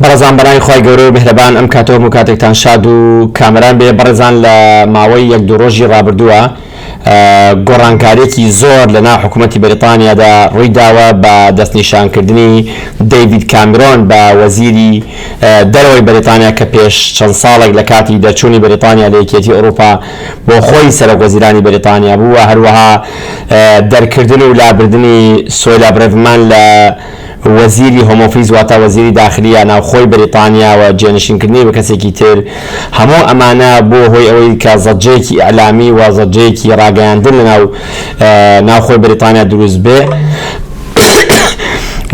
بەڕێزان بەناوی خوای گەورە و میهرەبان ئەم کاتە هەموو کاتێکتان شاد و کامەران بێ بەڕێزان لە ماوەی یەک دوو ڕۆژی ڕابردووە گۆڕانکاریەکی زۆر لە ناو حکوومەتی بەریتانیادا ڕووی داوە بە دەستنیشانکردنی دەیوید کامیرۆن بە وەزیری دەرەوەی بەریتانیا کە پێش چەند ساڵێک لە کاتی دەرچوونی بەریتانیا لە یەکێتی ئەوروپا بۆ خۆی سەرۆک وەزیرانی بەریتانیا بوو و هەروەها دەرکردن و لابردنی سۆیلا برەڤمان لە وەزیری هۆم ئۆفیس واتە وەزیری داخلی یا ناوخۆی بەریتانیا و جێنشینکردنی بە کەسێکی تر، هەموو ئەمانە بووە هۆی ئەوەی کە زەجەیەکی ئیعلامی و زەجەیەکی ڕاگەیاندن لە ناو ناوخۆی بەریتانیا دروست بێ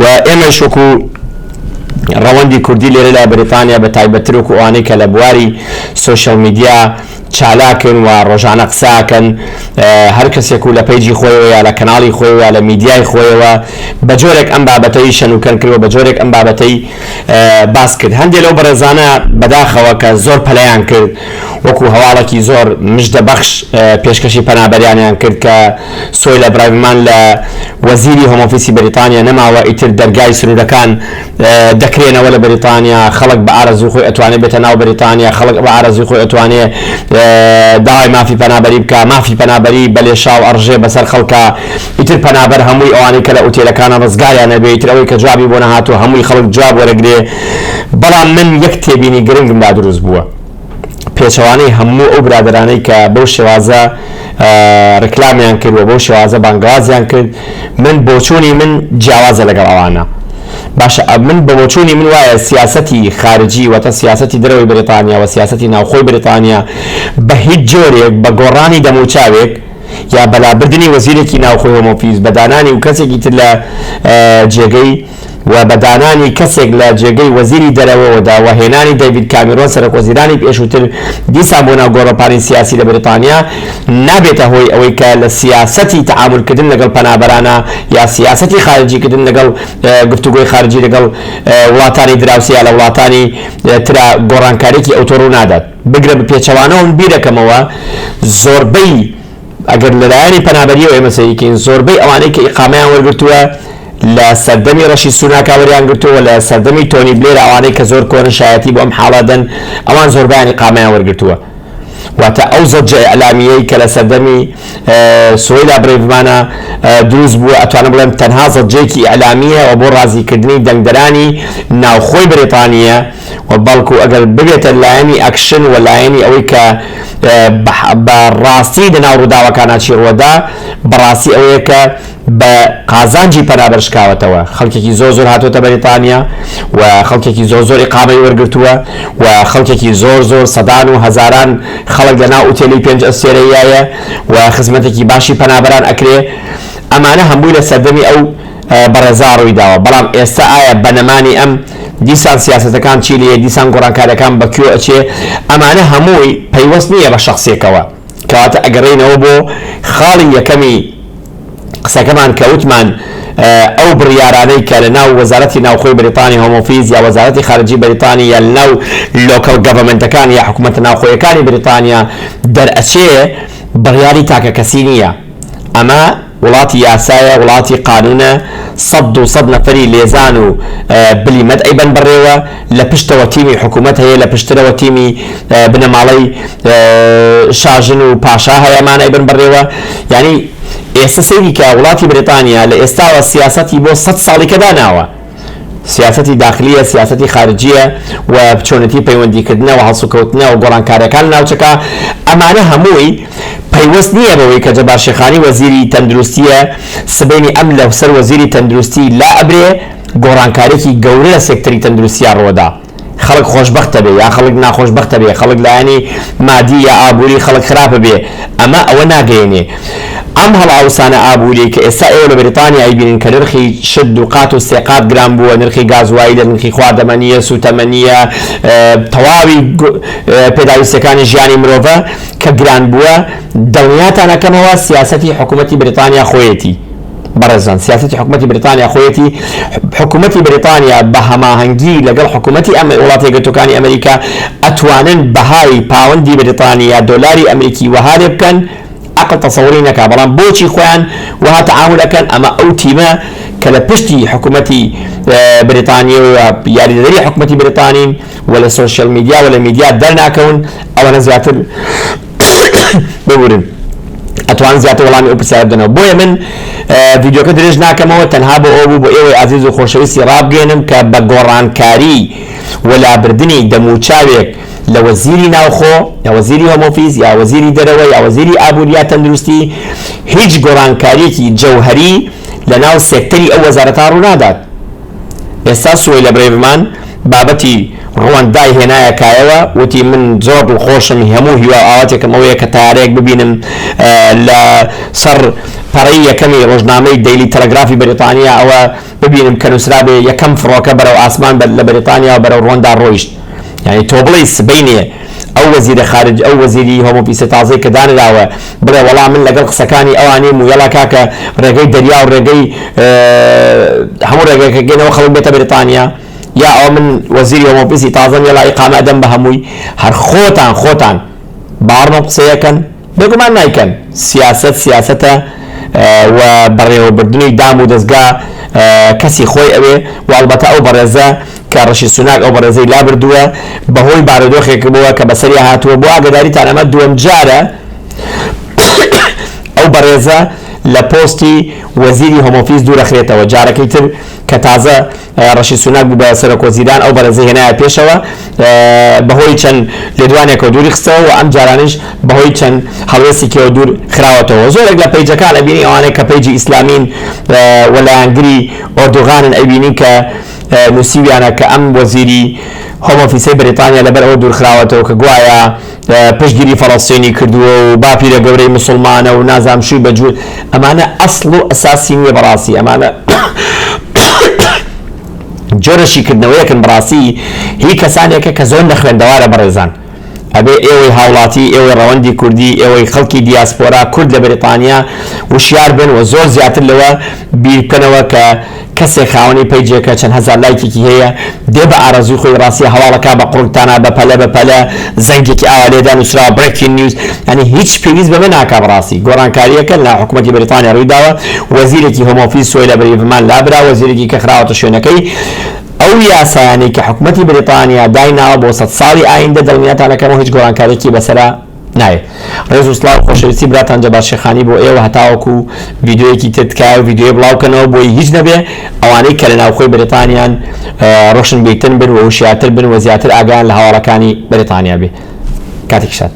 و ئێمەیش وەکو ڕەوەندی کوردی لێرە لە بەریتانیا بە تایبەتتر وەکو ئەوانەی کە لە بواری سۆشیال میدیا چالاکن و ڕۆژانە قسەئەکەن هەر کەسێک و لە پەیجی خۆیەوە یا لە کەناڵی خۆی یا لە میدیای خۆیەوە بە جۆرێک ئەم بابەتەی شەن و کەن کرد و بە جۆرێک ئەم بابەتەی باس کرد هەندێ لەو بەڕێزانە بەداخەوە کە زۆر پەلەیان کرد وەکو هەواڵەکی زۆر مژدە بەخش پێشکەشی پەنابەریانیان کرد کە سۆیلە برایڤمان لە وەزیری هۆمۆفیسی بەریتانیا نەماوە ئیتر دەرگای سنورەکان دەکرێنەوە لە بەریتانیا خەڵک بە ئارەزوی خۆی ئەتوانێ بێتە ناو بەریتانیا خەڵک بە ئارەزوی خۆی ئەتوانێ داوای مافی پەنابەری بکا مافی پەنابەری بە لێشاو ئەڕژێ بەسەر خەڵکا ئیتر پەنابەر هەمووی ئەوانەی کە لە ئوتێلەکانە ڕزگاریان نەبێ ئیتر ئەوەی کە جوابی بۆ نەهاتوە هەمووی خەڵک جواب وەرەگرێ بەڵام من یەک تێبینی گرنگم لا دروست بووە پێچەوانەی هەموو ئەو برادەرانەی کە بەو شێوازە ڕیکلامیان کرد و بەو شێوازە بانگەوازیان کرد من بۆچوونی من جیاوازە لەگەڵ ئەوانە باشە من بە بۆچوونی من وایە سیاسەتی خارجی واتە سیاسەتی دەرەوەی بریتانیا و سیاسەتی ناوخۆی بریتانیا بە هیچ جۆرێک بە گۆڕانی دەموچاوێک یا بەلابردنی وەزیرێکی ناوخۆی هۆمۆفیز بە دانانی و کەسێکی تر لە جێگەی و بە دانانی کەسێک لە جێگەی وەزیری دەرەوەوەدا و هێنانی دەیڤید کامیرۆن سەرۆکوەزیرانی پێشووتر دیسان بۆ ناو گۆڕەپانی سیاسی لە بەریتانیا نابێتە هۆی ئەوەی کە لە سیاسەتی تەعامول کردن لەگەڵ پەنابەرانە یا سیاسەتی خارجی کردن لەگەڵ گفتوگۆی خارجی لەگەڵ وڵاتانی دراوسێ یا لە وڵاتانی ترا گۆڕانکاریەکی ئەوتۆ ڕوونادات بگرە بە پێچەوانەوە من بیرەکەمەوە زۆربەی ئەگەر لە لایەنی پەنابەرییەوە ئێمە سەیری کەین زۆربەی ئەوانەی کە ئیقامەیان وەرگرتووە لە سەردەمی ڕەشی سوناکا وەریان گرتووە و لە سەردەمی تۆنی بلێر ئەوانەی کە زۆر کۆنن شایەتی بۆ ئەم حاڵە دەن ئەوان زۆربەیان ئیقامەیان وەرگرتووە واتە ئەو زەجە ئیعلامییەی کە لە سەردەمی سوەیلا برەیڤمانە دروست بووە ئەتوانم بڵێم تەنها زەجەیەکی ئیعلامییە و بۆ ڕازیکردنی دەنگدەرانی ناوخۆی بەریتانییە و بەڵکو ئەگەر ببێتە لایەنی ئەکشن و لایەنی ئەوەی کە بە ڕاستی لە ناو ڕووداوەکانا چی ڕووەدا بە ڕاستی ئەوەیە کە بە قازانجی پەنابەر شکاوەتەوە خەڵکێکی زۆر زۆر هاتووەتە بەریتانیا و خەڵکێکی زۆر زۆر ئیقامەی وەرگرتووە و خەڵکێکی زۆر زۆر سەدان و هەزاران خەڵک لە ناو ئوتێلی پێنج ئەستێرەیایە و خزمەتێکی باشی پەنابەران ئەکرێ ئەمانە هەمووی لە سەردەمی ئەو بەڕێزا ڕویداوە بەڵام ئێستا ئایا بەنەمانی ئەم دیسان سیاسەتەکان چی لێیە دیسان گۆڕانکاریەکان بەکوێ ئەچێ ئەمانە هەمووی پەیوەست نیە بە شەخسێکەوە کەواتە ئەگەڕێینەوە بۆ خاڵی یەکەمی قسەکەمان کە وتمان ئەو بڕیارانەی کە لە ناو وەزارەتی ناوخۆی بریتانی هۆمۆفیز یا وەزارەتی خارجی بریتانی یا لەناو لۆکەڵ گەڤەمنتەکان یا حکوومەتە ناوخۆیەکانی بریتانیا دەرئەچێ بڕیاری تاکە کەسی نییە ئەمە وڵاتی یاسایە وڵاتی قانونە سەد دوو سەد نەفەری لێزان و بلیمەت ئەیبەن بەڕێوە لە پشتەوە تیمی حکومەت هەیە لە پشترەوە تیمی بنەماڵەی شاژن و پاشا هەیە ئەمان ئەیبەن بەڕێوە یانی ئێستا سەیری کە وڵاتی بریتانیا لە ئێستاوە سیاسەتی بۆ سەد ساڵیکە داناوە. سیاسەتی داخلیە، سیاسەتی خارجیە و چۆنێتی پەیوەندیکردنە و هەڵسوکەوتنە و گۆڕانکاریەکان لە ناوچەکە، ئەمانە هەمووی پەیوەست نیە بەوەی کە جەبار شێخانی وەزیری تەندروستیە، سبەینی ئەم لە سەر وەزیری تەندروستی لا ئەبرێ، گۆڕانکاریەکی گەورە لە سێکتەری تەندروستیا ڕوەدا. خەڵک خۆشبەختە بێ یا خەڵک ناخۆشبەختە بێ، خەڵک لایەنی مادی یا ئابووری خەڵک خراپە بێ، ئەمە ئەوە ناگەیەنێ. ئەم هەڵئاوسانە ئابووریەی کە ئێستا ئێوە لە بریتانیا ئەیبینن کە نرخی شت دووقات و سێ قات گران بووە، نرخی گازوایلە، نرخی خواردەمە نییە، سووتەمە نییە، تەواوی پێداویستیەکانی ژیانی مرۆڤە کە گران بووە، دڵنیاتان ئەکەمەوە سیاسەتی حکومەتی بریتانیا خۆیەتی. بەڕێزان سیاسەتی حکومەتی بریتانیا خۆیەتی، حکومەتی بریتانیا بە هەماهەنگی لەگەڵ حکومەتی ئەم وڵاتە یەکگرتووەکانی ئەمریکا ئەتوانن بەهای پاوەندی بریتانی یا دۆلاری ئەمریکی وەها لێ بکەن ئەقڵ تەسەوری نەکا بەڵام بۆچی خۆیان وەها تەعامول ئەکەن ئەمە ئەو تیمە کە لە پشتی حکومەتی بریتانیە و یاریدەدەری حکومەتی بریتانین و لە سۆشیال میدیا و لە میدیا دەرناکەون ئەوەنە زیاتر ببورن ئەتوانن زیاتر وەڵامی ئەو پرسیارە بدەنەوە بۆیە من ڤیدیۆکە درێژ ناکەمەوە تەنها بۆ ئەوە بوو بۆ ئێوەی ئازیز و خۆشەویستی ڕابگەێنم کە بە گۆڕانکاری و لابردنی دەموچاوێک لە وەزیری ناوخۆ یا وەزیری هۆمۆفیز یا وەزیری دەرەوە یا وەزیری ئابووری یا تەندروستی هیچ گۆڕانکاریەکی جەوهری لە ناو سێکتەری ئەو وەزارەتان ڕوونادات ئێستا سوەیلە برێڤمان بابەتی ڕوەندای هێنایە کایەوە وتی من زۆر دڵخۆشم هەموو هیوا و ئاواتێکم ئەوەیە کە تەیارەیەک ببینم لە سەر پەڕەی یەکەمی ڕۆژنامەی دەیلی تەلەگرافی بەریتانیا ئەوە ببینم کە نووسرابێ یەکەم فڕۆکە بەرەو ئاسمان لە بەریتانیا بەرەو ڕوەندا ڕۆیشت. یانی تۆ بڵێی سبەینێ ئەو وەزیرە خارج ئەو وەزیری هۆمۆ پیسە تازەی کە دانراوە بڵێ وەڵا من لەگەڵ قسەکانی ئەوا نیم و یەڵا کاکە ڕێگەی دەریا و ڕێگەی هەموو ڕێگەکە گێنەوە خەڵک بێتە بریتانیا یا ئەو من وەزیری هۆمۆ پیسی تازەم یەڵا ئیقامە ئەدەم بە هەمووی هەر خۆتان خۆتان باڕنۆ قسەیەکەن بێگومان نایکەن، سیاسەت سیاسەتە و بەڕێوەبردنی دام و دەزگا کەسی خۆی ئەوێ و ئەڵبەتە ئەو بەڕێزە کە ڕشی سوناک ئەو بەڕێزەی لابردووە بەهۆی بارودۆخێکبووە کە بەسەریا هاتووە بۆ ئاگەداریتان ئەمە دووەمجارە ئەو بەڕێزە لە پۆستی وەزیری هۆمۆفیس دوورەخرێتەوە جارەکەی تر کە تازە ڕشی سوناک بوو بە سەرۆک وەزیران ئەو بەڕێزەی هێنایە پێشەوە بەهۆی چەند لێدوانێکەوە دووری خستەوە و ئەم جارانیش بەهۆی چەند هەڵوێستێکیەوە دوور خراوەتەوە زۆرێک لە پەیجەکان ئەبینی ئەوانەی کە پەیجی ئیسلامین و لایەنگری ئۆردوغانن ئەیبینی کە نووسیویانە کە ئەم وەزیری هۆم ئۆفیسەی بەریتانیا لەبەر ئەوە دوورخراوەتەوە کە گوایە پشتگیری فەڵەستینی کردووە و باپیرە گەورەی موسڵمانە و نازام شووی بە جوون ئەمانە ئەسڵ و ئەساسی نییە بەڕاستی ئەمانە جۆرە شیکردنەوەیەکن بڕاستی هی کەسانێکە کە زۆر نەخوێندەوارە بەڕێزان ئەبێ ئێوەی هاوڵاتی ئێوەی ڕەوەندی کوردی ئێوەی خەڵکی دیاسپۆرا کورد لە بەریتانیا وشیار بن و زۆر زیاتر لەوە بیرکەنەوە کە کەسێک خاوەنی پەیجێکە چەند هەزار لایکێکی هەیە دێ بە ئارەزووی خۆی ڕاستیە هەواڵەکان بە قوڕگ تانا بە پەلە بە پەلە زەنگێکی ئاوا لێدا نوسراوە Breaking News یانی هیچ پێویست بەمە ناکا بەڕاستی گۆڕانکاریەکە لە حکومەتی بەریتانیا ڕوویداوە وەزیرێکی Home Office سۆی لە بریڤمان لابرا وەزیرێکی کە خراوەتە شوێنەکەی ئەو یاسایانەی کە حکومەتی بریتانیا دایناوە بۆ سەد ساڵی ئایندە دڵنیاتان ئەکەمەوە هیچ گۆڕانکاریەکی بەسەرا نایێ. ڕێز و سڵاو خۆشەویستی براتان جەبار شێخانی بۆ ئێوە هەتاوەکو ڤیدیۆیەکی تر تکایە ڤیدیۆیە بڵاو کەنەوە بۆی هیچ نەبێ ئەوانەی کە لە ناوخۆی بەریتانیان ڕۆشن بیرتن بن و هوشیارتر بن و زیاتر ئاگایان لە هەواڵەکانی بەریتانیا بێ کاتێکی شاد.